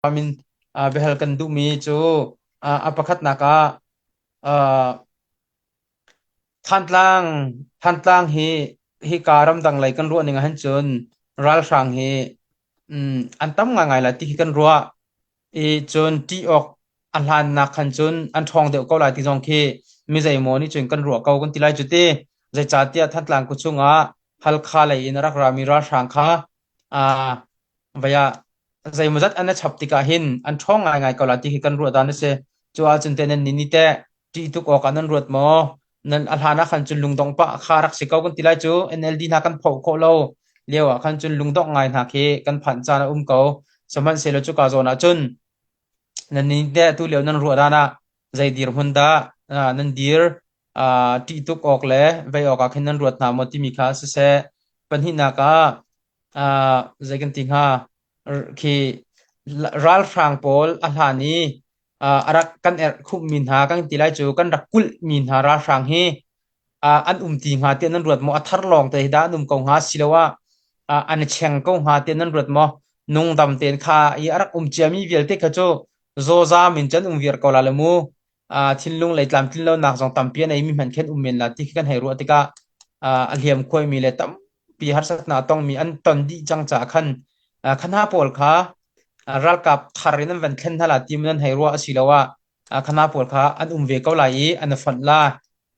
Biahal kan duhmi cu a pakhatnak ah Thantlang Thantlang hi hika ramdang lei kan ruah ning ahhin cun ralhrang hi an tam ngaingai lai tihi kan ruah i cun ṭih awk a hlannak khan cun an ṭhawng deuh ko lai ti zong khi mizeimaw nih cun kan ruah ko kan ti lai cu ti. Zeicahtiah Thantlang khuachung ah Halkha lei in a rak rami ralhrang kha Ah, vei ah zeimawzat an na chap tikah hin an ṭhawng ngaingai ko lai ti khi kan ruahdan a si. Cuahah cun teh nan nih nih teh ṭih tuk awkah nan ruat maw? Nan a hlan ah khan cun lungdong pah kha rak si ko kan ti lai cu. NLD hna kan phoh khawh lo lio ah khan cun lungdongh ngai hna khi kan phanh caan a um ko. Sihmanhsehlaw cuka zawn ah cun nan nih teh tu lio nan ruahdan ah zei dirhmun dah ah, nan dir ṭih tuk awk le vei awkah khin nan ruat hna maw timi kha siseh pahnihnak ah zei kan ti hnga khi ralhrang pawl a hlan i a rak kan erhkhumhmi hna kan ti lai cu kan rak kulhmi hna ralhrang hi an um ti hnga tiah nan ruat maw a thar lawng te hi dah an um ko hnga asiloah an cheng ko hnga tiah nan ruat maw nungdam tein kha i a rak um ciami vialte kha cu zawzam in cun um viar ko la la mu thinlung lei tlamtlinlonak zong tampi a neimi hmanh khin um men la ti khi kan hei ruah tikah a hliamkhuaimi le tampi harsatnak a tongmi an ton dih cang caah khan kha hna pawl kha ralkap thar in an van thlen hna la timu nan hei ruah asiloah kha hna pawl kha an um ve ko lai i an a fonh la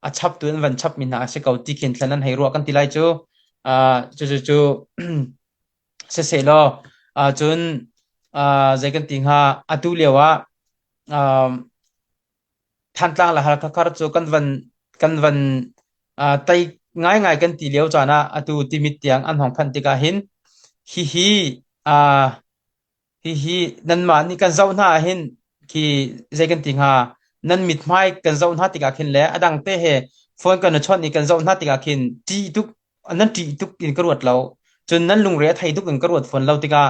a chaptu an van chapmi hna a si ko ti khin thlen an hei ruah kan ti lai cu cucu siseh law cun zei kan ti hnga atu lio ah Um, Thantlang le Halkha cu kan van kan van uh, tai ngaingai kan ti lio caan ah atu timit tiang an hong phanh tikah hin hihi uh, hihi nanmah nih kan zoh hna hin khi zei kan ti hnga nan mit hmai kan zoh hna tikah khin le a dang te he phone kan i chawnh i kan zoh hna tikah khin ṭih tuk nan ṭih tuk in ka ruat lo. Cun nan lungre a thei tuk in ka ruat fawn lo tikah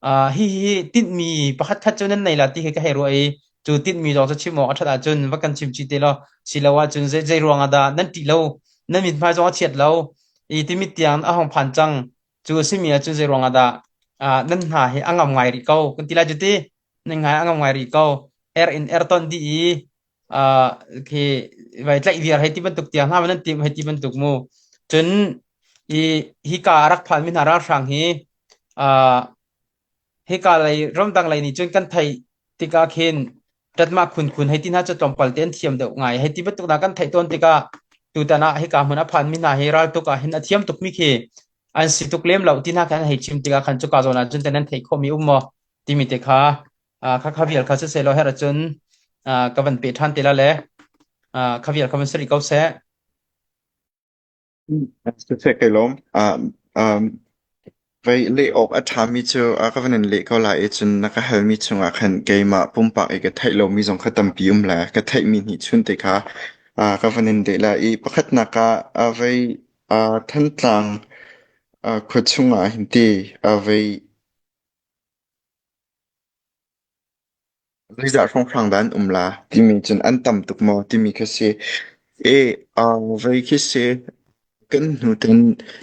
uh, hihi tinhmi pakhatkhat cu nan nei la ti khi ka hei ruah i cu tinhmi zong cu chim awk a ṭhat ahcun va kan chim chih te law siloah cun zei, zei ruang ah dah nan ṭih lo, nan mithmai zong a chiat lo i timit tiang a hong phan cang cu a simi ahcun zei ruang ah dah uh, nan hna hi a ngam ngai rih ko kan ti lai cu ti nan ngai a ngam ngai rih ko er in er ton dih i khi vai tlaih viar hei ti bantuk tiang hna nan timh hei ti bantuk mu cun i hika a rak phanmi hna ralhrang hi uh, hika lei ramdang lei nih cun kan theih tikah khin tatmah khunkhun hei ti hna cu tlawmpal te an thiam deuh ngai hei ti bantuk na kan theih tawn tikah tutan ah hika hmun a phanmi hna hi raltuk ah hin a thiam tukmi khi an si tuk lem lo ti hna kan hei chim tikah khan cuka zawn ah cun te nan theih khomi um maw timi te kha Ah, kha kha vial kha sisehlaw herh ahcun ah, ka van pe ṭhan te la le ah, kha vial kha van si rih ko seh. Siseh kai lawm. Ah, um, Vei leh awk a ṭhami cu a ka van in leh ko lai i cun na ka halmi chungah khan keimah pumpak i ka theih lomi zong kha tampi um la. Ka theihmi nih chun te kha a ka van in deh la i pakhatnak ah a vei a Thantlang a khua chungah hin ti a vei Zeizah hrawnghrang dah an um la timi cun an tam tuk maw timi khi si. Voi khi si kan hnu tan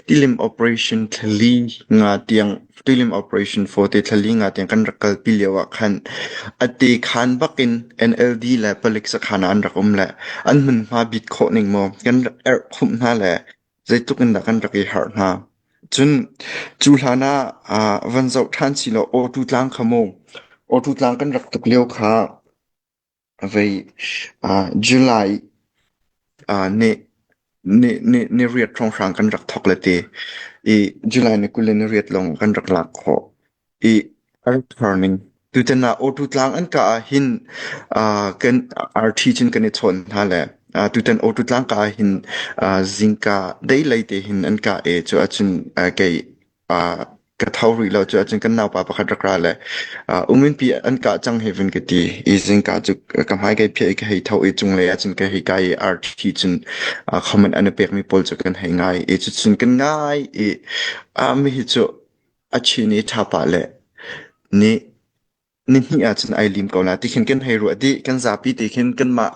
tilim operation thlali nga tiang tilim operation fote thlali nga tiang kan rak kalpi lio ah khan a te khan bakin NLD le palik sakhan ah an rak um le an hmunhma bit khawh ning maw kan rak erh khumh hna le zeitluk in dah kan rak i harh hna. Cun cu hlan ah ah van zoh ṭhan si law Awṭu tlang kha mu, Awṭu tlang kan rak tuk lio kha vei ah July ah ni ni ni ni riat hrawnghrang kan rak thawk le ti i July ni kul le ni riat lawng kan rak lak khawh. i an turning. Tutan ah Awtu Tlang an ka ah hin uh, kan arthi cun kan i chawn hna le uh, tutan Awtu Tlang ka ah hin uh, zingka dei lei te hin an ka e cu acun uh, kei uh, ka thau ri lo cu acun kan nau pa pakhat rak ra le uh, umin pi an ka chang heaven ka ti i zingka cu ka hmai kai phe ka hei thau i chung le acun ka hei kai arthi cun uh, khoman an pek mi pol cu kan hei ngai i cu cun kan ngai i uh, mi hi cu A chin i ṭhapa le nih nihnih ahcun ai lim ko la tikhin kan hei ruah dih. Kan zapi tikhin kanmah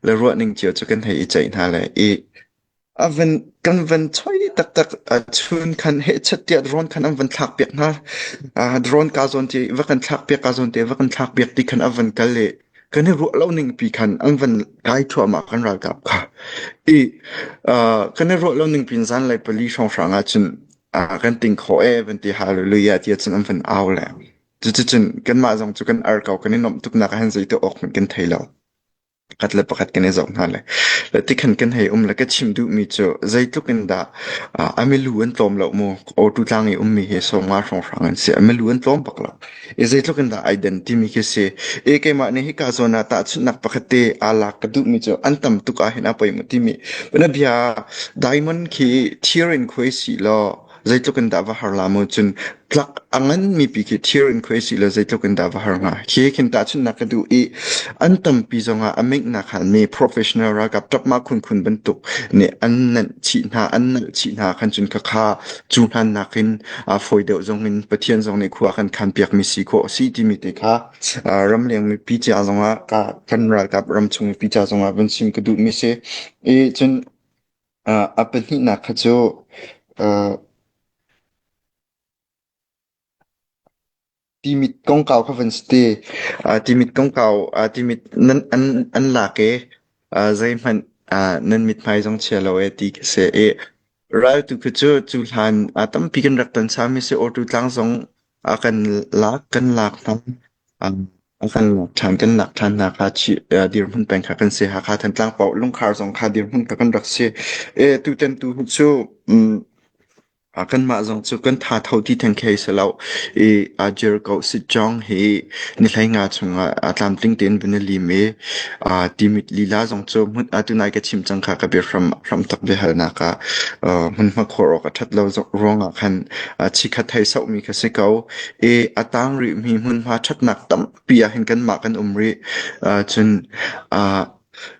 le ruahning cio cu kan hei i ceih hna le i a van kan van choi taktak a chun khan hehchat tiah drone khan an van thlak piak hna. Uh, drone ka zawn te va kan thlak piak ka zawn te va kan thlak piak ti khan a van kal le kan i ruah lo ning pi khan an van kai thuama kan ralkap kha i uh, kan i ruah lo ning pin zan le pali hrawng hrang ahcun ah kan ting khawh e van ti hallelujah ti cun an van au le cucun kanmah zong cu kan ar ko kan i nuamh tuknak ah hin zeitu awk hmanh kan thei lo pakhat le pakhat kan i zoh hna le le tikhan kan hei um le ka chim duhmi cu zeitluk in dah a milu an tlawm lo mu awtu tlang i ummi hi sawma hrawnghrang an si a milu an tlawm bak lo I zeitluk in dah ai den timi khi si. I keimah nih hika zawn ah tahchunhnak pakhat te aa lak ka duhmi cu an tam tuk ahhin a poi timi. Bana bia diamond khi thir in khuai si law zeitluk in dah va har la mu cun tlak a nganmi pi khi thir in khuai si law zeitluk in dah va har hnga. Khi khin tahchunhnak ka duh i an tampi zongah a meknak halmi professional ralkap tapma khunkhun bantuk nih an nanh chih hna, an nalh chih hna khan cun ka kha cu hlannak in a fawi deuh zong in Pathian zong nih khua kan khan piakmi si khawh a si timi te kha ramleng mipi ca zongah ka kan ralkap ramchung mipi ca zongah van sim ka duhmi si i cun a pahnihnak kha cu Timit kongkau kha van si te. Timit kongkau timit an lak i zeihmanh nan mithmai zong chia lo ti khi a si. Raltu khi cu cu hlan tampi kan rak ton sami a si. Awṭu tlang zong a kan lak kan lak hna. A kan lak ṭhan kan lak ṭhan hna kha dirhmun peng kha kan si. Hakha Thantlang paoh lungkhar zong kha dirhmun kha kan rak si. Tutan tu hi cu Kanmah zong cu kan thatho ti theng khi si lo. I aa jir ko sit zong hi ni hleinga chungah tlamtling tein vun i lim i timit lila zong cu tunai ka chim cang kha ka bia hram tak biahalnak ah hmunhma khawr awk a that lo ruangah khan chikhat hei sauhmi kha si ko. I a tang rihmi hmunhma thatnak tampi ahhin kanmah kan um rih. Cun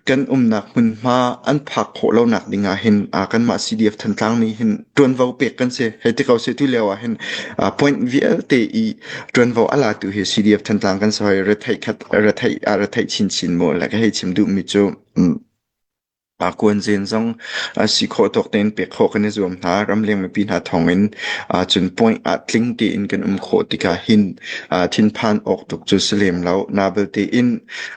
Kan umnak hmunhma an phak khawh lonak ding ah hin aa kanmah CDF Thantlang nih hin ṭuanvo pek kan si. Hei ti ko seh, tu lio ah hin aa point vialte i ṭuanvo a latu hi CDF Thantlang kan si hoi. Retheih khat, retheih, a retheih chinchin mu le ka hei chim duhmi cu um, aa kuanzen zong aa si khawh tawk tein pek khawh kan i zuam hna. Ramleng mipi hna thawng in aa cun point ah tling tein kan um khawh tikah hin aa thinphan awk tuk cu si lem lo. Na belte in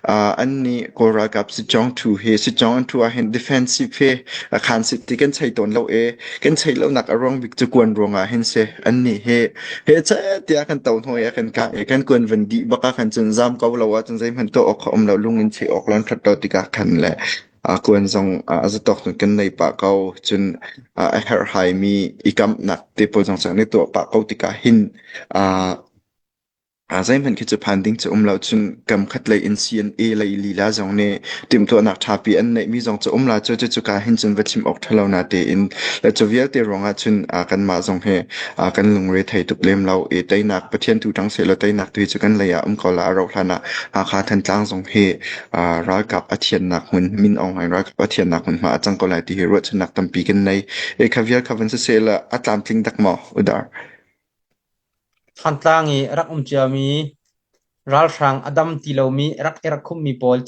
An nih Kawl ralkap sicong ṭhu hi sicong an ṭhu ahhin defensive hi a khaan sit ti kan chei tawn lo i kan cheih lonak a ruang bik cu kuan ruangah hin si. An nih hi hi cehtiah kan to hnuai ah kan kah i kan kuan van dih bak ah khan cun zaam ko lo ahcun zeihmanh tuah awk a um lo lungin cheih awk lon ṭhat lo tikah khan le kuan zong a zatawk cun kan nei pah ko cun a herhhaimi i kamhnak te pawl zong cun kan i tuah pah ko tikah hin Aa zeihmanh khi cu phan ding cu a um lo. Cun kam khat lei in CNA lei lila zong nih timhtuahnak ṭhapi an neihmi zong cu a um la cu. Cucuka hin cun va chim awk ṭha lo na tein le cu vialte ruangah cun aa kanmah zong hi aa kan lungre thei tuk lem lo. I teinak Pathian tu ṭang sehlaw teinak tu hi cu kan lei ah um ko la. A rauh hlan ah Hakha Thantlang zong hi aa ralkap a thiannak hmun Min Aung Hlaing ralkap a thiannak hmunhma a cang ko lai ti hi ruahchannak tampi kan nei. I kha vial kha van siseh la a tlamtling dak maw udar? Thantlang i rak um ciami, ralhrang a dam ti lomi rak i rakhummi pawl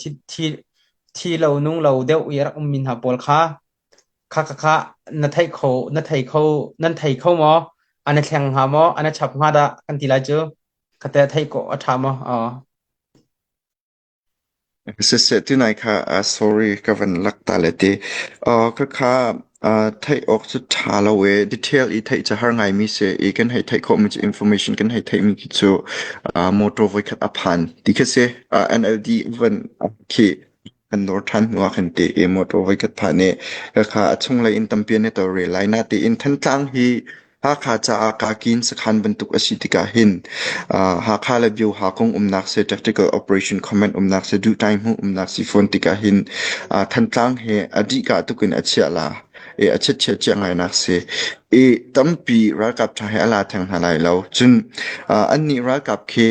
thi lo nung lo deuh i rak ummi hna pawl kha kha na thei kho maw? A na thleng hnga maw? A na chap hnga dah? kan ti lai cu. Kha teh theih khawh a ṭha maw? Siseh ti nai kha ah sorry ka van lak ta le ti. Uh, ka kha uh, theih awk cu tha lo e. Detail i theih cu har ngaimi si i kan hei theih khawhmi cu information kan hei theihmi khi cu uh, motor voikhat a phan ti khi si. Uh, NLD van khi kan dor than hnuah kan ti i motor voikhat phan i ka kha a chunglei in tampi ne to re lai na ti in Thantlang hi Hakha caah kaa kin sakhan bantuk a si tikah hin Hakha le Bioha kong umnak seh tactical operation comment umnak seh duh tai hmuh umnak si fawn tikah hin Thantlang he a dih kah tuk in a chiah la i a chiatchiat cia ngainak si. I tampi ralkap tha he a la theng hna lai lo. Cun annih ralkap khi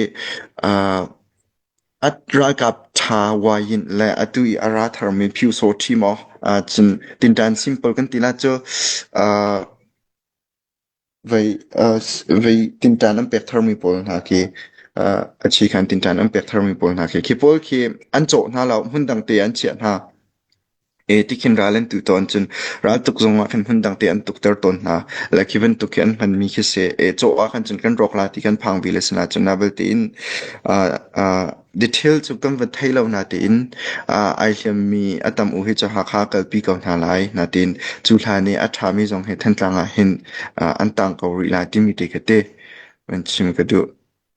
At ralkap ṭha Wayint le atu i a ra tharmi Pyusawh ṭhi maw ahcun tinṭan simple kan ti na cu ah vei vei tinṭan an pek tharmi pawl hna khi a chih khan tinṭan an pek tharmi pawl hna khi khi pawl khi an cawh hna lo hmun dang te an chiah hna. Ee tikhin ral an tuh tawn cun raltuk zung ah khin hmundang te an tukter tawn hna. Like hi bantuk hi an hmanmi khi si ee cawh ah khan cun kan rawk la ti kan phang bil a si na cun nabil tein aa aa detail cu kan van thei lo na tein aa ai hliammi a tam u hi cu Hakha kalpi ko hna lai na tein cu hlan i a ṭhami zong hi Thantlang ah hin aa an tang ko rih lai timi te ka te van chim ka duh.